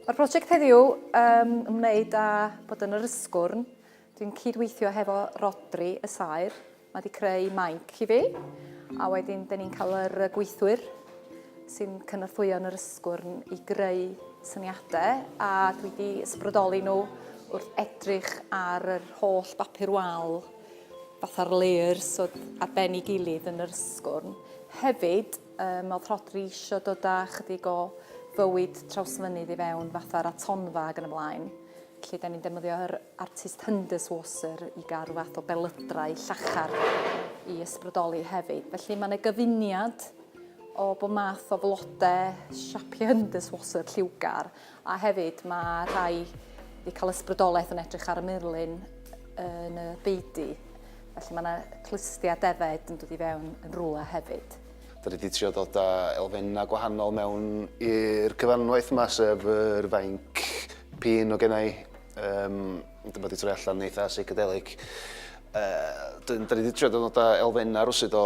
Mae'r prosiect heddiw um, ymwneud â bod yn yr ysgwrn. Dwi'n cydweithio hefo Rodri y Saer. Mae wedi creu mainc i fi. A wedyn, dyn ni'n cael yr gweithwyr sy'n cynorthwyo yn yr ysgwrn i greu syniadau. A dwi wedi ysbrydoli nhw wrth edrych ar yr holl bapur wal fatha'r layers oedd ar ben ei gilydd yn yr ysgwrn. Hefyd, um, oedd Rhodri eisiau dod â chydig o fywyd trawsfynydd i fewn, fatha'r atonfa ac yn y blaen. Felly, da ni'n defnyddio yr artist Hunders Wasser i gael rhyw fath o belydrau llachar i ysbrydoli hefyd. Felly, mae yna gyfuniad o bod math o flodau siapiau Hunders Wasser lliwgar A hefyd mae rhai wedi cael ysbrydolaeth yn edrych ar y murlun yn y beudy. Felly mae yna clustiau defaid yn dod i fewn yn rhywle hefyd. Da ni wedi trio dod â elfennau gwahanol mewn i'r cyfanwaith yma, sef yr fainc pin o gennau. Um, dyma wedi troi allan eitha psychedelic. Uh, da ni wedi trio dod â elfennau rwsyd o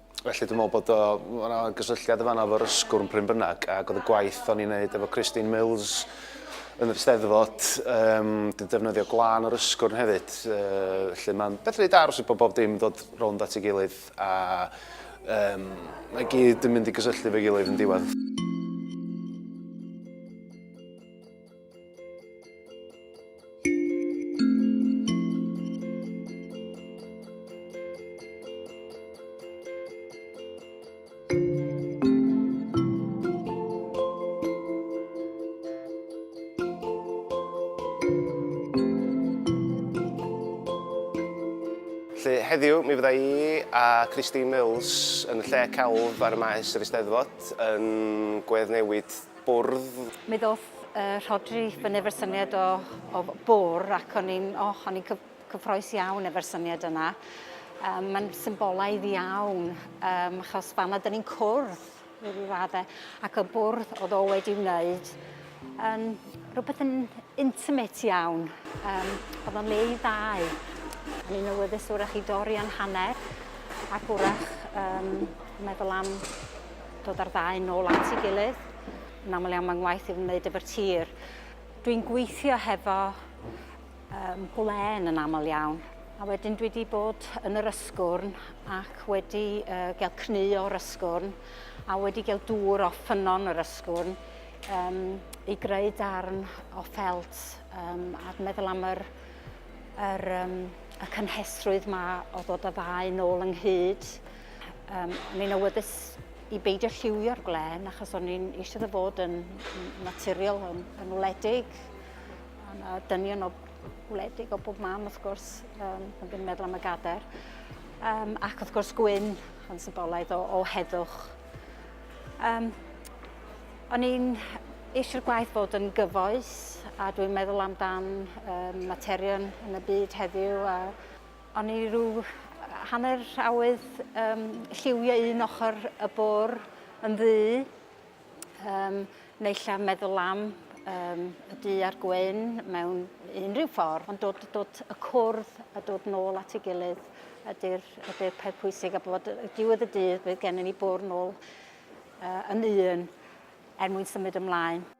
Felly dwi'n meddwl bod o, mae yna gysylltiad yn fanna efo'r ysgwrn pryn bynnag, ac oedd y gwaith o'n i'n neud efo Christine Mills yn yr Steddfod, um, dwi'n defnyddio glan o'r ysgwrn hefyd, uh, felly mae'n beth rhaid aros i bod bob dim dod rownd at ei gilydd, a um, mae gyd yn mynd i gysylltu fe gilydd yn diwedd. Felly heddiw mi fydda i a Christine Mills yn y lle celf ar y maes yr Eisteddfod yn gweddnewid bwrdd. Mi ddoth yy Rhodri i fyny efo'r syniad o o bwr ac o'n i'n o o'n i'n cyf- cyffroes iawn efo'r syniad yna. Yym ma'n symbolaidd iawn yym achos fama 'dyn ni'n cwrdd i ryw radde ac y bwrdd o'dd o wedi wneud yn rwbeth yn intimate iawn yym o'dd o'n le i ddau. O'n i'n awyddus 'w'rach i dorri yn hanner ac 'w'rach yym meddwl am Dod â'r ddau nôl at ei gilydd. Yn aml iawn mae'n ngwaith i wneud efo'r tir. Dwi'n gweithio hefo um, gwlen yn aml iawn. A wedyn dwi wedi bod yn yr ysgwrn ac wedi uh, gael cnu o'r ysgwrn a wedi gael dŵr o ffynon yr ysgwrn um, i greu darn o ffelt um, a dwi'n meddwl am yr, yr, um, y cynhesrwydd mae o ddod o ddau nôl ynghyd. Um, ni'n awyddus i beidio lliwio'r gwlen achos o'n i'n eisiau dda fod yn naturiol, yn, yn wledig. A dynion o wledig o bob mam wrth gwrs, um, yn ddim meddwl am y gader. Um, ac wrth gwrs gwyn yn symbolaidd o, o heddwch. Um, o'n i'n eisiau'r gwaith fod yn gyfoes a dwi'n meddwl amdan um, materion yn y byd heddiw a O'n i rhyw hanner awydd yym lliwio un ochr y bwr' yn ddu yym neu 'lla meddwl am yym y du a'r gwyn mewn unrhyw ffordd ond dod dod y cwrdd a dod nôl at ei gilydd ydi'r ydi'r peth pwysig a bod y diwedd y dydd bydd gennym ni bwrw nôl yy yn un er mwyn symud ymlaen.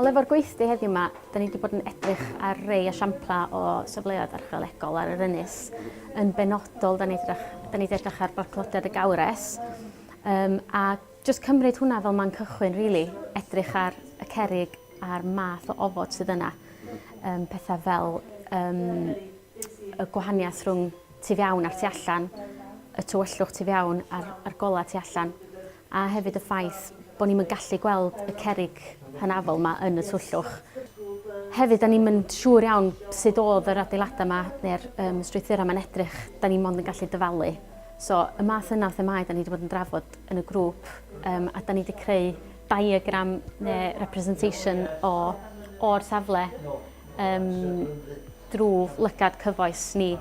Ond efo'r gweithdy heddiw yma, da ni wedi bod yn edrych ar rei esiampla o safleoedd archeolegol ar yr ynys. Yn benodol, da ni wedi edrych ar barclodiad y gawres, um, a Jyst cymryd hwnna fel man cychwyn rili, edrych ar y cerrig a'r math o ofod sydd yna. Yym petha fel yym y gwahaniaeth rhwng tu fewn a'r tu allan, y tywyllwch tu fewn a'r a'r gola tu allan, a hefyd y ffaith bo' ni'm yn gallu gweld y cerrig hynafol 'ma yn y twyllwch. Hefyd 'dan ni'm yn siŵr iawn sud o'dd yr adeilada' 'ma ne'r yym strwythura' 'ma'n edrych, 'dan ni mond yn gallu dyfalu. So, y math yna o themâu da ni wedi bod yn drafod yn y grŵp, um, a da ni wedi creu diagram neu representation o o'r safle um, drwy lygad cyfoes ni.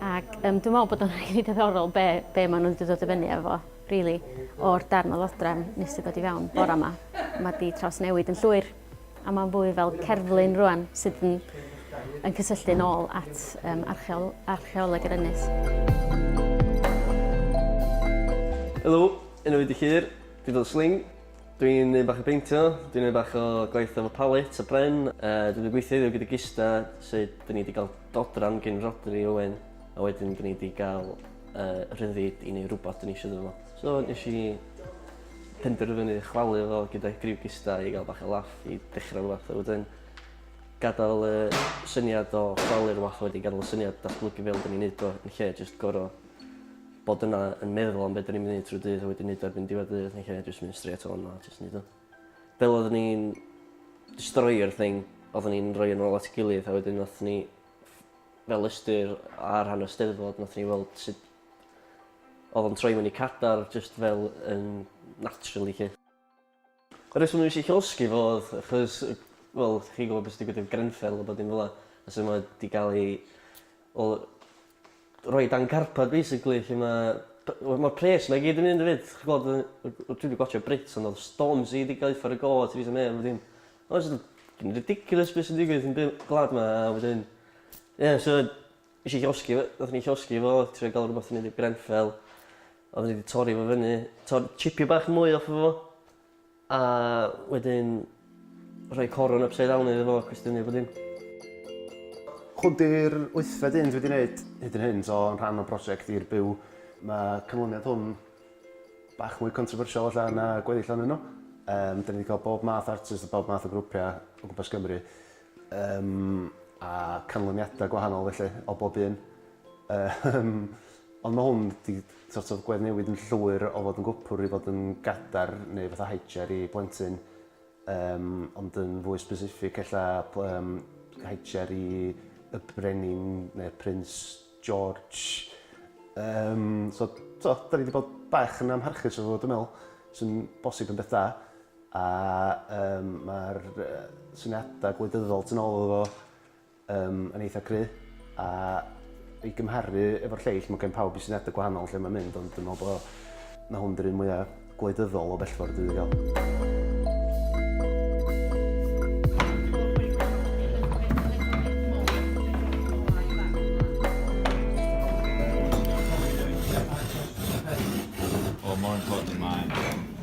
Ac um, dwi'n meddwl bod o'n rhaid i ddiddorol be, be maen nhw wedi dod i fyny efo, really, o'r darn o ddodrefn nes i ddod i fewn bore yma. Mae di trawsnewid yn llwyr. a mae'n fwy fel cerflun rwan sydd yn, yn cysylltu'n ôl at um, archeol, archeoleg yr ynys. Helo, enw i Dychir, dwi fel Sling. Dwi'n neud bach o beintio, dwi'n neud bach o gwaith efo palet a bren. Uh, dwi'n gweithio iddo gyda Gista, sut dyn ni wedi cael dodran gen Rodri Owen, a wedyn dyn ni wedi cael uh, rhyddid i neud rhywbeth dyn ni eisiau dod So nes i penderfynu chwalu fo gyda griw gista i gael bach o laff i dechrau rhywbeth a wedyn gadael y syniad o chwalu'r wath wedi gadael y syniad datblygu fel dyn ni'n neud o yn lle jyst gor'o' bod yna yn meddwl am be' 'dyn ni'n myn' i neud trw'r dydd a wedyn neud o erbyn diwedd y dydd yn lle jyst mynd strêt on a jyst neud o. Fel oeddwn i'n destroio'r thing oeddwn ni'n rhoi yn ôl at 'i gilydd a wedyn nathon ni fel ystyr ar rhan y Steddfod nathon ni weld sut Oedd o'n troi fyny cadar jyst fel yn naturally 'lly. Y reswm nes i llosgi fo oedd achos yy wel chi'n gwbo be' sy' digwydd efo Grenfell a bo dim fela a su' mae 'di ga'l ei wel rhoi dan carpad basically lle ma' by- wel ma'r pres 'ma i gyd yn mynd efyd chi'n gweld yy yy dwi 'di gwatsio Brits ond odd Stormzy 'di ga'l 'i uffar' o go' a Theresa May a bo dim. Mae jys yn ridiculous be' sy'n digwydd yn by- gwlad 'ma a wedyn ie so Nes i llosgi fo, nathon ni llosgi fo, trio ga'l rwbath i neud i'r Grenfell. Odden ni 'di torri fo fyny, tor- chipio bach mwy off o fo, a wedyn rhoi corwm upside down iddo fo a cwestiynu a bo dim. Hwn 'di'r wythfed un dwi 'di neud hyd yn hyn, so yn rhan o brosiect I'r Byw. Ma' canlyniad hwn bach mwy controversial ella na gweddill onyn nhw. Yym 'dan ni 'di ca'l bob math o artist a bob math o grwpia' o gwmpas Cymru. Yym, a canlyniadau gwahanol felly, o bob un. Yym, ond mae hwn 'di sort of gweddnewid yn llwyr o fod yn gwpwr i fod yn gadar neu fatha high chair i blentyn. Yym, ond yn fwy specific ella yym high chair i y Brenin neu Prince George. Yym, so t'o' 'dan ni 'di bod bach yn amharchus efo fo dwi me'wl, sy'n bosib yn beth da. A yym mae'r syniadau gwleidyddol tu nôl iddo fo yym yn eitha cry', a i gymharu efo'r lleill ma' gen pawb 'u syniadau gwahanol lle mae'n mynd ond dwi'n meddwl bo' 'na hwn 'di'r un mwya' gwleidyddol o bellfor dwi 'di ga'l. Wel mor important mae